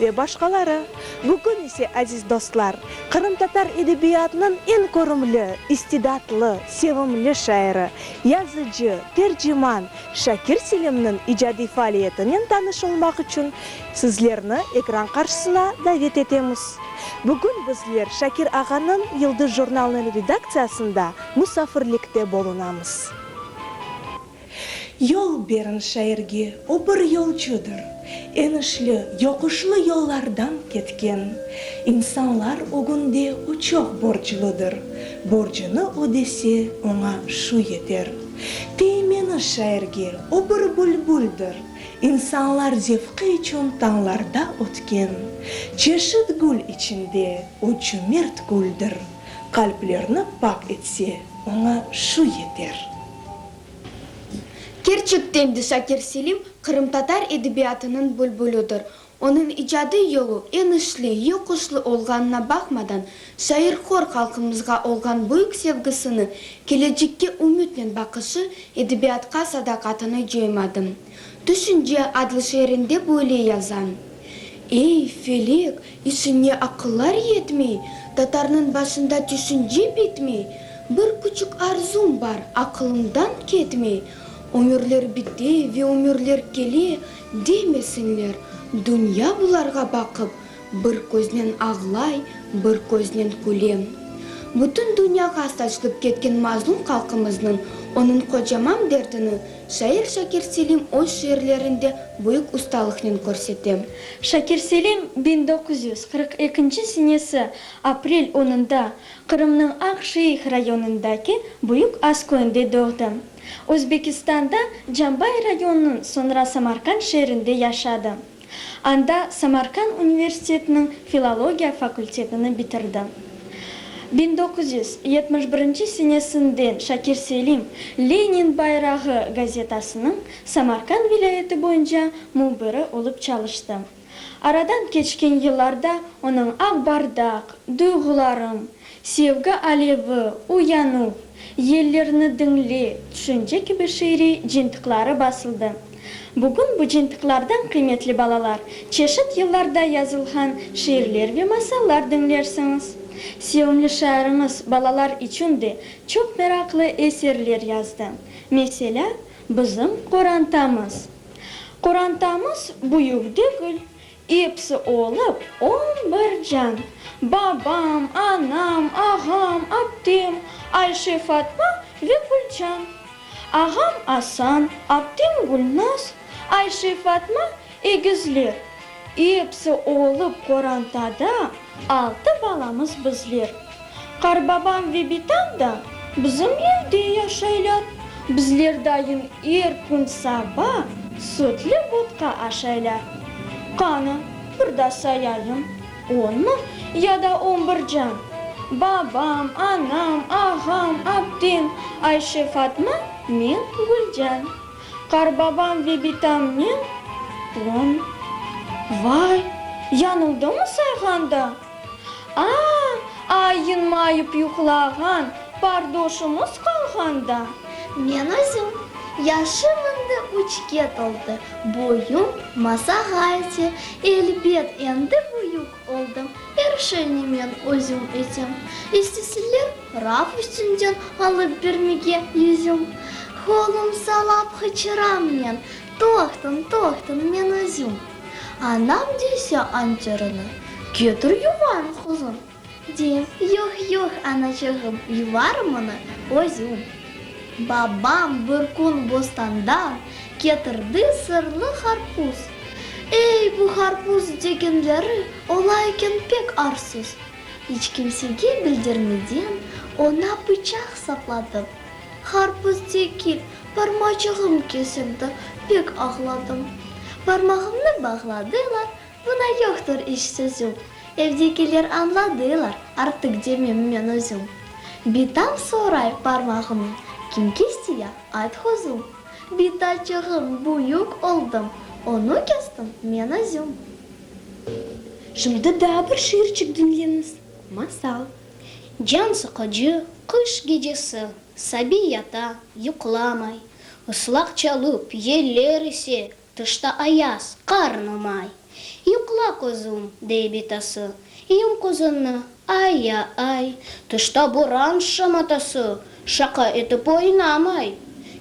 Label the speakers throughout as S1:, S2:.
S1: Ve başqaları. Bugün ise, aziz dostlar, qırımtatar edebiyatınıñ eñ körümli, istidatlı, sevimli şairi, yazıcı, terciman Şakir Selimniñ icadiy faaliyetinen tanış olmaq içün sizlerni ekran qarşısına davet etemiz. Bugün bizler Şakir ağanıñ Yıldız jurnalınıñ redaktsiyasında musafirlikte bulunamız. Yol beriñ şairge, o bir yolcudır. Enişli, yoquşlı yollardan ketken insanlar ögünde o çoq borcludır. Borcunı ödese, oña şu yeter. Teymeni şairge, o bir bülbüldir. İnsanlar zevqi içün tañlarda ötken çeşit gül içinde o cümert güldir. Qalplerni pak etse, oña şu yeter.
S2: Kerçekten de Şakir Selim qırımtatar edebiyatınıñ bülbülüdir. Onıñ icadiy yolu eñ işli, yoquşlı olğanına baqmadan, şair hor halqımızğa olğan büyük sevgisini, kelecekke ümütnen baqışı, edebiyatqa sadaqatını coymadı. Tüşünce adlı şiirinde böyle yazan, Ey, felek, işiñe aqıllar yetmey, Tatarnıñ başında tüşünce bitmey, Bir küçük arzum bar, aqılımdan ketmey, Ömürler bite ve ömürler kele, Demesinler, dünya bularğa baqıp, Bir köznen ağlay, bir köznen küle. Bütün dünyağa saçılıp ketken mazlum halqımıznıñ onıñ qocaman dertini Şair Şakir Selim öz şiirlerinde büyük ustalıqnen körsete. Şakir Selim
S3: biñ doquz yüz qırq ekinci senesi aprel onında Qırımnıñ Aqşeih rayonındaki Büyük As köyünde doğdı. Özbekistanda Cambay rayonınıñ, soñra Samarqand şeerinde yaşadı. Anda Samarkand universitetiniñ filologiya fakültetini bitirdi. Biñ doquz yüz yetmiş birinci senesinden Şakir Selim, Lenin bayrağı gazetasınıñ Samarkand vilâyeti boyunca mübiri olıp çalıştı. Aradan keçken yıllarda onıñ Aq bardaq, Duyğularım, Sevgi alevi, uyanuv, yellerni diñle, tüşünce kibi şiiriy cıntıqları basıldı. Bugün bu cıntıqlardan, qıymetli balalar, çeşit yıllarda yazılğan şiirler ve masallar diñlersiñiz. Sevimli şairimiz balalar içün de çoq meraqlı eserler yazdı. Meselâ, Bizim qorantamız. Qorantamız büyük degil. Episi olıp on bir can, babam, anam, ağam, aptem, Ayşe, Fatma ve Gülcan. Ağam Asan, aptem Gülnaz, Ayşe, Fatma, egizler. Episi olıp qorantada altı balamız bizler. Qarbabam ve bitam da bizim evde yaşaylar. Bizler dayım er kün saba sütli vodka aşaylar. Qanı, bir da sayayım, onmı ya da on bir can. Babam, anam, ağam, aptem, Ayşe, Fatma, men, Gülcan. Qarbabam ve bitam men, on. Vay, yanıldımı sayğanda? Aa! Ayınmayıp yuqlağan pardoşumız qalğanda. Men
S4: özüm. Yaşım indi üçke toldı, boyum masağa ete. Elbet, endi büyük oldım, er şeyni men özüm etem. İstesler raf üstünden alıp bermege yüzüm. Qolum salap qıçıram men, Toqtın, toqtın, men özüm. Anam dese anterini, Ketir yuvarım, quzum, deyim. Yoq, yoq, anaçığım, yuvarım onı özüm. Babam bir kün bostandan ketirdi sırlı qarpuz. Ey, bu qarpuz degenleri ola eken pek arsız. İç kimsege bildirmeden, oña pıçaq sapladım. Qarpız tekil, parmacığım kesildi, pek ağladım. Parmağımnı bağladılar, buna yoqtur iç sözüm. Evdekiler añladılar, artıq demem men özüm. Bitam soray parmağımı, kim kesti ya, ayt quzum. Bita çığım büyük oldım, onı kestim men özüm. Şimdi
S3: daa bir şiirçik diñleñiz, masal. Can
S5: sıqıcı qış gecesi, sabiy yata, yuqlamay, ıslaq çalıp, yeller ise, tışta ayaz, qarnı may. Yuqla, quzum, dey bitası, yum qozunı, ay-ya-ay, tışta boran şamatası, şaqa etip oynamay.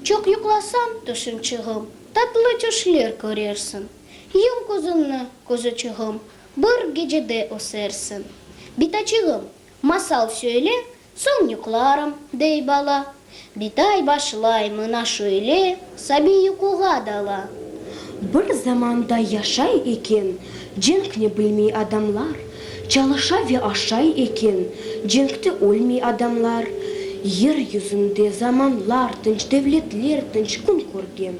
S5: Çoq yuqlasañ, tüşüñçığım, tatlı tüşler körersiñ. Yum qozunı, quzuçığım, Bir gecede ösersiñ. Bitaçığım, masal söyle, soñ yuqlarım, dey bala. Bitay başlay mına şöyle, sabiy yuquğa dala. Bir
S3: zamanda yaşay eken cenkni bilmey adamlar, çalışa ve aşay eken cenkte ölmey adamlar. Yer yüzünde zamanlar tınç, devletler tınç kün körgen,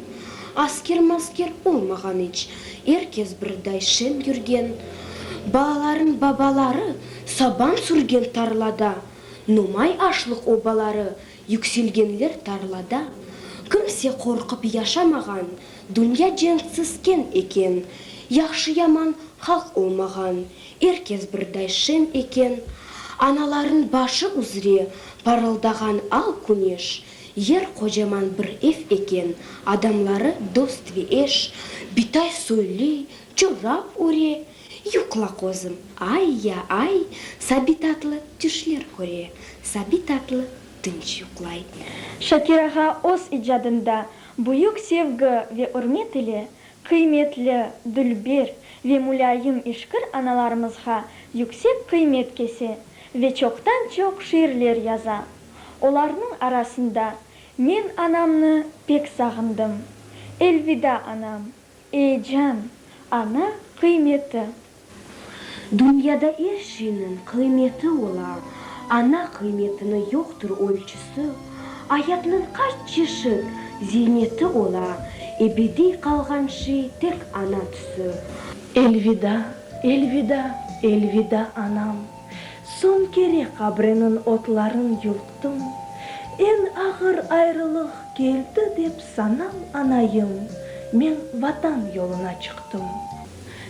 S3: asker-masker olmağan iç, Er kes birday şem yürgen, balalarnıñ babaları saban sürgen tarlada, nomay aşlıq obaları yükselgenler tarlada, kimse qorqıp yaşamağan, dünya cenksizken eken, yahşı-yaman halq olmağan, er kes birday şem eken, analarnıñ başı üzre parıldağan al küneş, Yer qocaman bir ev eken, adamları dost ve eş, bitay soyli, çorap öre, yuqla qozım, ay ya ay, Sabi tatlı tüşler köre, Sabi tatlı tınç yuqlay. Şakir ağa
S6: öz icadında büyük sevgi ve ürmet ile qıymetli, dülber ve mulâyim işkir analarımızğa yüksek qıymet kese ve çoqtan-çoq şiirler yaza. Olarnıñ arasında men anamnı pek sağındım. Elvida, anam! Ey, can! Ana qıymeti!
S3: Dünyada er şeyniñ qıymeti ola, ana qıymetini yoqtır ölçüsi, ayatnıñ qaç çeşit ziyneti ola, ebediy qalğan şey tek ana tüsü. Elvida, elvida, elvida, anam! Soñ kere qabriniñ otların yulqtım, Eñ ağır ayrılıq keldi dep sanam anayım, Men Vatan yoluna çıqtım.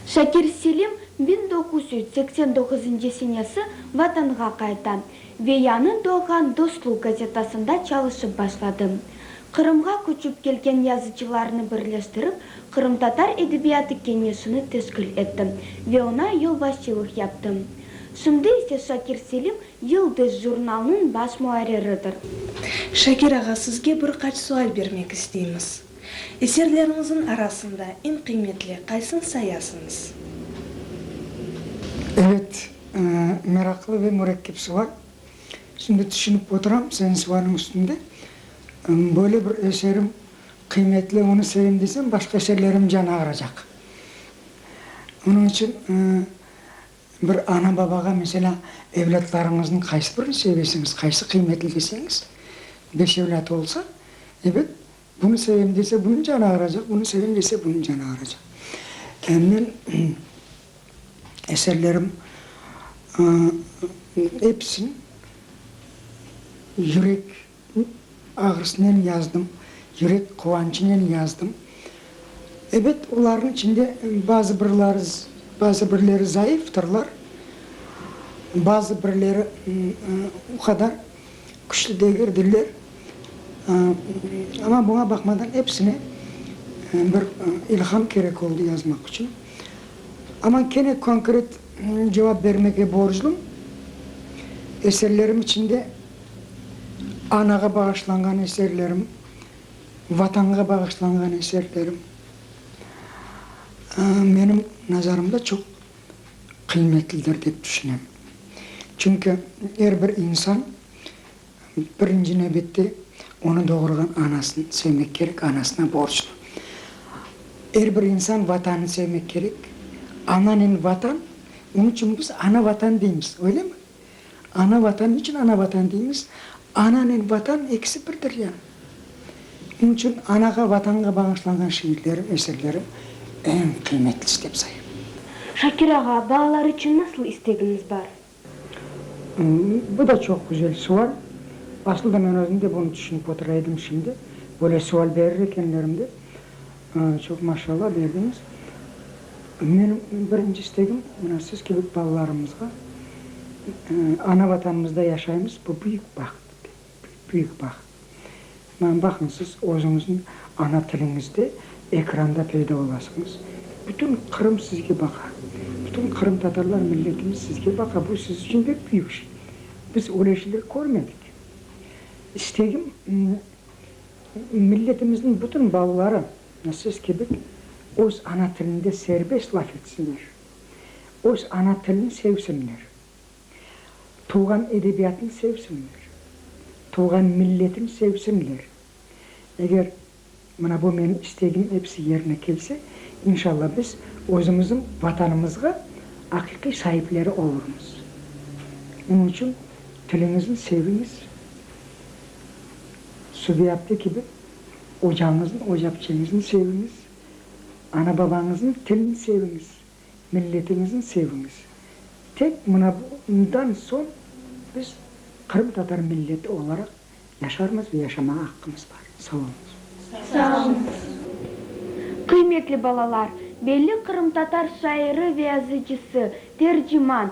S3: Şakir
S2: Selim biñ doquz yüz seksen doquzıncı senesi Vatanğa qayta ve yañı doğğan Dostluq gazetasında çalışıp başladı. Qırımğa köçip kelgen yazıcılarnı birleştirip, Qırımtatar edebiyatı keñeşini teşkil ettim ve oña yolbaşçılıq yaptım. Şimdi ise Şakir Selim Yıldız jurnalınıñ baş muarriridir. Şakir
S1: ağa, sizge bir qaç sual bermek isteymiz. Eserleriñizniñ arasında eñ qıymetli qaysın sayasıñız?
S7: Evet, meraqlı ve mürekkep sual. Şimdi tüşünip oturam seniñ sualın üstünde. Böyle bir eserim Qıymetli, onı sevim desem, başqa şeerlerim canı ağıracaq. Onıñ içün bir ana-babağa, meselâ, evlâtlarıñıznıñ qaysı birini sevesiñiz, qaysı qıymetli deseñiz, beş evlâtı olsa, ebet, bunı sevim dese, bunıñ canı ağıracaq, bunı sevim dese, bunıñ canı ağıracaq. Yani men eserlerim episini yürek Ağrısınen yazdım, yürek quvançınen yazdım. Ebet, olarnıñ içinde bazı birler, bazı birleri zayıftırlar, bazı birleri o qadar küçlü degildirler. Amma buña baqmadan epsine bir ilham kerek oldı yazmaq içün. Amma kene konkret cevap bermege borclum, eserlerim içinde. Anağa bağışlanğan eserlerim, Vatanğa bağışlanğan eserlerim, menim nazarımda çoq qıymetlidir dep tüşünem. Çünki er bir insan birinci nevbette onı doğurğan anasını sevmek kerek, anasına borclu. Er bir insan Vatanı sevmek kerek. Ananen Vatan, onıñ içün biz Ana Vatan deymiz, öylemi? Ana Vatan, niçün ana Vatan deymiz? Ananen Vatan ekisi birdir ya. Oñ içün anağa, Vatanğa bağışlanğan şiirlerim, eserlerim eñ qıymetlisi dep sayım. Şakir
S3: ağa, balalar içün nasıl istegiñiz bar? Bu
S7: da çoq güzel sual. Asılda men özüm de bunı tüşünip otura edim şimdi, böyle sual berir ekenlerim dep. Çoq maşallah berdiñiz. Menim birinci istegim, mına siz kibi balalarımızğa ana Vatanımızda yaşaymız, bu büyük baht, büyük baht. Mına baqıñ, siz özüñizniñ ana tiliñizde ekranda peyda olasıñız, bütün Qırım sizge baqa, bütün qırımtatarlar milletimiz sizge baqa, bu siz içün pek büyük şey. Biz öyle şeyler körmedik. İstegim. Milletimizniñ bütün balaları siz kibi öz ana tilinde serbest laf etsinler, öz ana tilini sevsinler, tuvğan edebiyatını sevsinler, tuvğan milletini sevsinler. Eger mına bu menim istegim episi yerine kelse, inşalla biz özümizniñ Vatanımızğa aqiqiy saipleri olurmız. Onıñ içün tiliñizni seviñiz. Subiyatlı kibi ocañıznı, ocapçeñizni seviñiz, ana-babañıznıñ tilini seviñiz, milletiñizni seviñiz. Tek mına bundan soñ biz qırımtatar milleti olaraq yaşarmız ve yaşamağa aqqımız bar. Sağ oluñız. Sağ
S6: oluñız. Qıymetli balalar, belli qırımtatar şairi ve yazıcısı, terciman,